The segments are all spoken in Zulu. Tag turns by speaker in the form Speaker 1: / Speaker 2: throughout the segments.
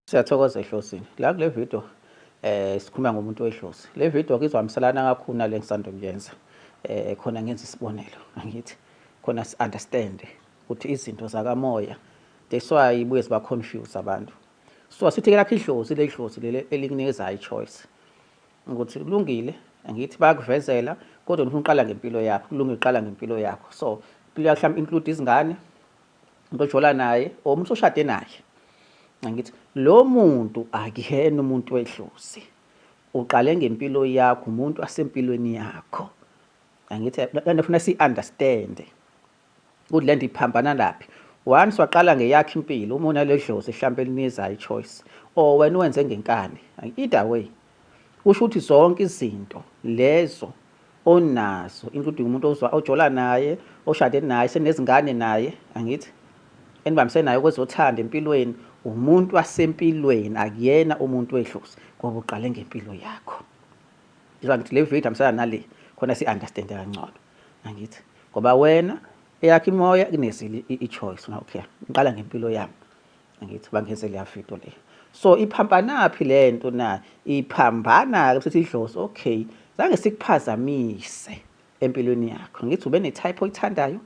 Speaker 1: Siyathokoza ehlosini. La kule video eh sikhuluma ngomuntu wehlosi. Le video kizwamiselana kakhulu nale ngisando kuyenza. Eh khona ngenza isibonelo angithi khona si understand ukuthi izinto zakamoya that's why ibuye siba confuse abantu. So sithi ke lakhe idlozi le dlozi lele elikunikeza i choice. Ukuthi kulungile angithi bayakuvezela kodwa ufuna uqala ngempilo yakho, kulungile uqala ngempilo yakho. So impilo yakho mhlawumbe include izingane, umuntu ojola naye or umuntu oshade naye ngithi lo muntu akuyena umuntu wedlozi uqale ngempilo yakho umuntu asempilweni yakho angithi lento ufuna si understand ukuthi lento iphambana laphi once waqala ngeyakhe impilo uma unaledlozi mhlawumbe elinizayo ichoice or wena wenze ngenkani either way Kusho ukuthi zonke izinto lezo onazo including umuntu ojola naye oshade naye senezingane naye angithi enibambise naye kwezothanda empilweni umuntu wasempilweni akuyena umuntu wedlozi ngoba uqale ngempilo yakho njengoba ngithi le video hambisana nale khona si-understande kangcono angithi ngoba wena eyakho imoya kunezile i-choice okay ngiqala ngempilo yami ngithi bangeze liyafito le so iphambanaphi le nto na iphambana-ke sithi idlozi okay zange sikuphazamise empilweni yakho ngithi ube ne-type oyithandayo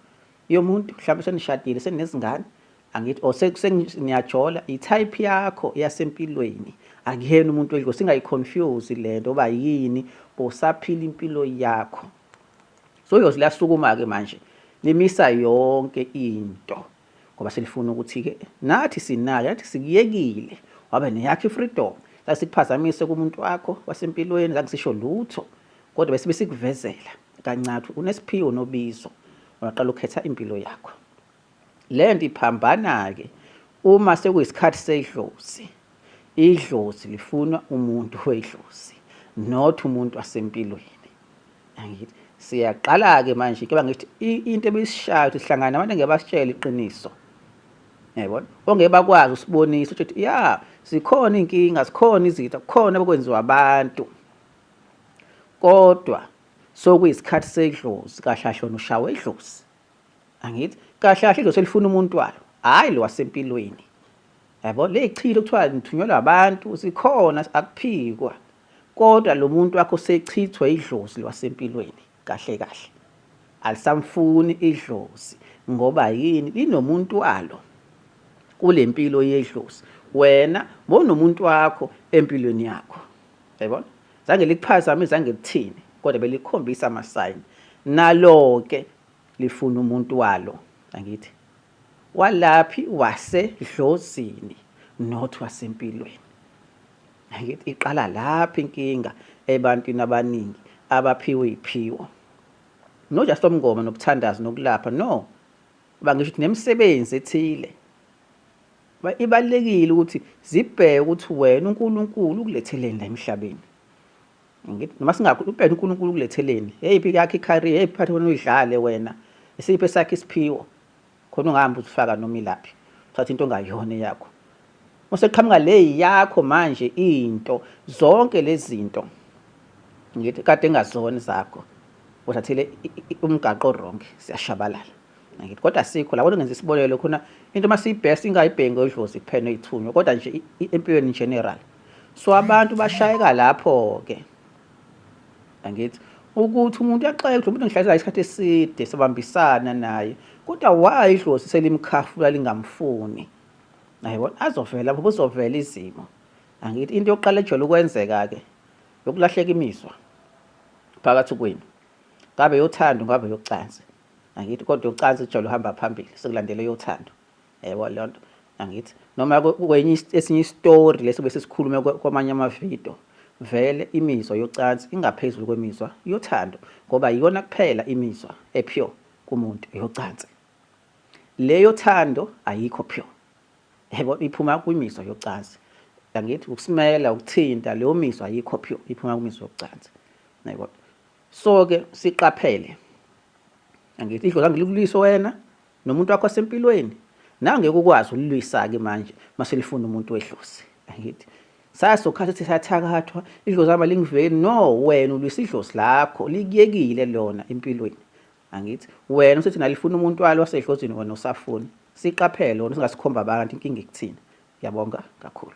Speaker 1: yomuntu mhlawumbe senishadile senezingane angithi or seniyajola i-type yakho yasempilweni akuyena umuntu wedlozi singayiconfuse le nto oba yini bosaphila impilo yakho so yoze liyasukuma-ke manje limisa yonke into ngoba silifuna ukuthi-ke nathi sinayo nathi sikuyekile wabe neyakho i-freedom zange sikuphazamise kumuntu wakho wasempilweni zange sisho lutho kodwa besibe sikuvezela kancathu unesiphiwo nobizo ungaqala ukukhetha impilo yakho le nto iphambana-ke uma sekuyisikhathi sedlozi Idlozi lifuna umuntu wedlozi not umuntu wasempilweni. Angithi siyaqala ke manje ke bangithi into ebisishayo ukuthi sihlangana abantu ngeke basitshele iqiniso. Yayibona? Ongeke bakwazi usibonisa ukuthi ya sikhona inkinga, sikhona izitha, kukhona okwenziwa abantu. Kodwa sokuyisikhathi sedlozi kahlahlona ushawe idlozi. angithi kahle kahle idlozi elifuna umuntu walo hhayi lo wasempilweni yabo le yichilo kuthiwa ngithunyelwa abantu sikhona akuphikwa kodwa lo muntu wakho sechithwe idlozi lwasempilweni kahle kahle alisamfuni idlozi ngoba yini linomuntu walo kule mpilo yedlozi wena bonomuntu wakho empilweni yakho yayibona zange likuphazame zange lithini kodwa belikhombisa amasayini nalo-ke lifuna umuntu walo angithi walaphi wasedlozini not wasempilweni angithi iqala lapha inkinga ebantwini abaningi abaphiwe iphiwo no just omngoma nokuthandaza nokulapha no bangisho ukuthi nemisebenzi ethile ibalekile ukuthi zibheke ukuthi wena uNkulunkulu ukuletheleni la emhlabeni ngithi noma singakho ubheke uNkulunkulu kuletheleni eyiphi yakhe icareer eyiphi phathi wena uyidlale wena isiphi esakhe isiphiwo khona ungahambi uzifaka noma ilaphi uthatha into ongayona yakho useqhamuka le yakho manje into zonke lezinto ngithi kade engazona zakho uthathile umgaqo wrong siyashabalala ngithi kodwa sikho labo ngenza isibonelo khona into masiyibest ingayibhengi odlozi kuphela oyithunywa kodwa nje empilweni in general so abantu bashayeka lapho ke angithi ukuthi umuntu yaxoxa ukuthi umuntu ngihlala isikhathi eside sabambisana naye kodwa why idlozi selimkhafula lingamfuni ayibona azovela lapho kuzovela izimo angithi into yokuqala ejwayele ukwenzeka ke yokulahleka imizwa phakathi kwenu ngabe yothando ngabe yocansi angithi kodwa yocansi ijwayele uhamba phambili sekulandele yothando yebo leyo nto angithi noma kwenye esinye isitori leso bese sikhulume kwamanye amavidiyo vele imizwa yocansi ingaphezulu kwemizwa yothando ngoba iyona kuphela imizwa epure kumuntu yocansi leyo thando ayikho pure yebo iphuma kwimizwa yocansi angithi ukusimela ukuthinta leyo mizwa ayikho pure iphuma kwimizwa yocansi yebo so ke siqaphele angithi idlozi angilibuliso wena nomuntu wakho sempilweni nawe ngeke ukwazi ulilwisake manje maselifuna umuntu wedlozi angithi sasokhathi ukuthi sathakathwa idlozi ama lingiveli no wena ulwisa idlozi lakho likuyekile lona empilweni angithi wena usethi nalifuna umuntu walo wasedlozini wena usafuni siqaphele wona singasikhomba abantu inkinga ikuthina yabonga kakhulu